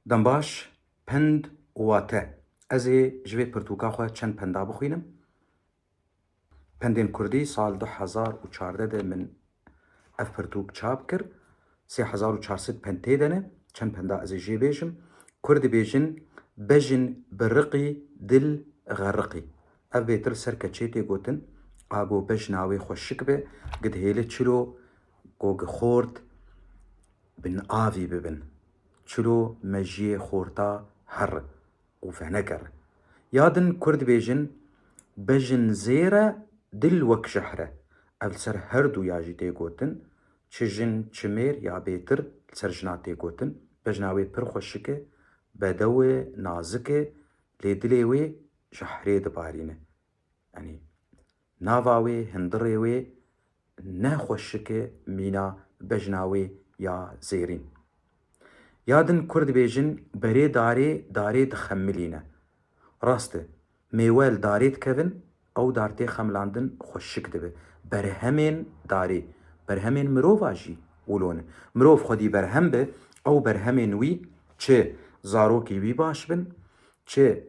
Dembaş, Pend û wate, Ez ê ji vê pirtûka xwe çend penda bixwînim. Pendên kurdî, Sal du hezar û çardeh de min ev pirtûk çap kir. Sê hezar û çar sed pend tê de ne. Çend penda ez ê jê bêjim. Kurd dibêjin, Bejin bi riqî, dil xerriqî. Ev bêtil ser keçê tê gotin. A go bejna wê xwe şik be, gidhêli çilo, gogixort, binavî bibin. Çilo mejiyê xorta herr û feneke re. Ya din kurd dibêjin, Bejin zêr e, dil wek jehr e. Ev li ser her du ya jî tê gotin. Çi jin, çi mêr ya bêtir li ser jina tê gotin. Bejna wê pir xweşik e, bedew e, nazik e, lê dilê wê jehrê dibarîne. Yanî Nava wê hundirê wê ne xweşike mîna bejna wê ya zêrîn. Ya din kur dibêjin berê darê darê dixemilîne. Rast e, mêwe li darê dikevin, ew dar tê xemilandin xweşik dibe. Berhemên darê, berhemên mirova jî wilo ne. Mirov xwedî berhem be, ew berhemên wî çi zarokê wî baş bin, çi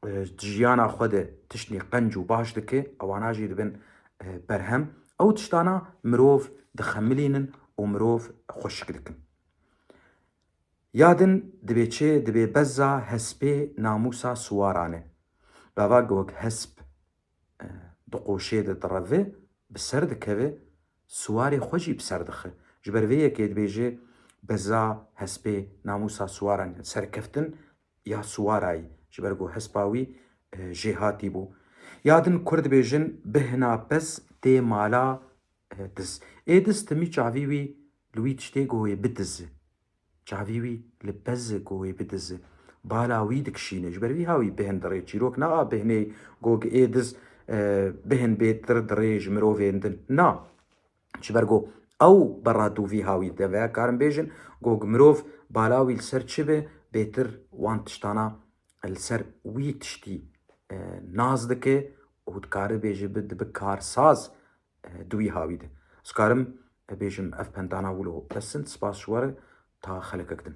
Di jiyana xwe de tiştê qenc û baş dike, ewana jî dibin berhem. Ew tiştana mirov dixemilînin û mirov xweşik dikin. Ya din dibê çi? Dibê bezza hespê namûsa siwaran e. Gava ku wek hesp di qoşê de direve, bi ser dikeve, siwarê xwe jî bi ser dixe. Ji ber vê yekê dibêje bezza hespê namûsa siwaran e. Serkeftin ya Suwarayî ji ber ku hespa wî jêhatî bû. Ya din Kurd dibêjin bihna pez tê mala diz. Ê diz timî çavî wî li wî tiştê ku wê bidizi. Çavî wî li pez e ku wê bidizi. Bala wî dikişîne. Ji ber vî ha wî bihin dirê. Çîrok na a bihinê ku ê diz bihin bê tir dirê ji mirovên din. Na. Ji ber ku ew bi rad û vî hawî de veya karin bêjin ku mirov bala wî li ser çi be, bêtir wan tiştana li ser wî tiştî nas dike û dikare bêje bi dibi karsaz di wî hawî de. Ez karim bêjim ev pendana wilo bes in. Spas ji we re ta xelekek din.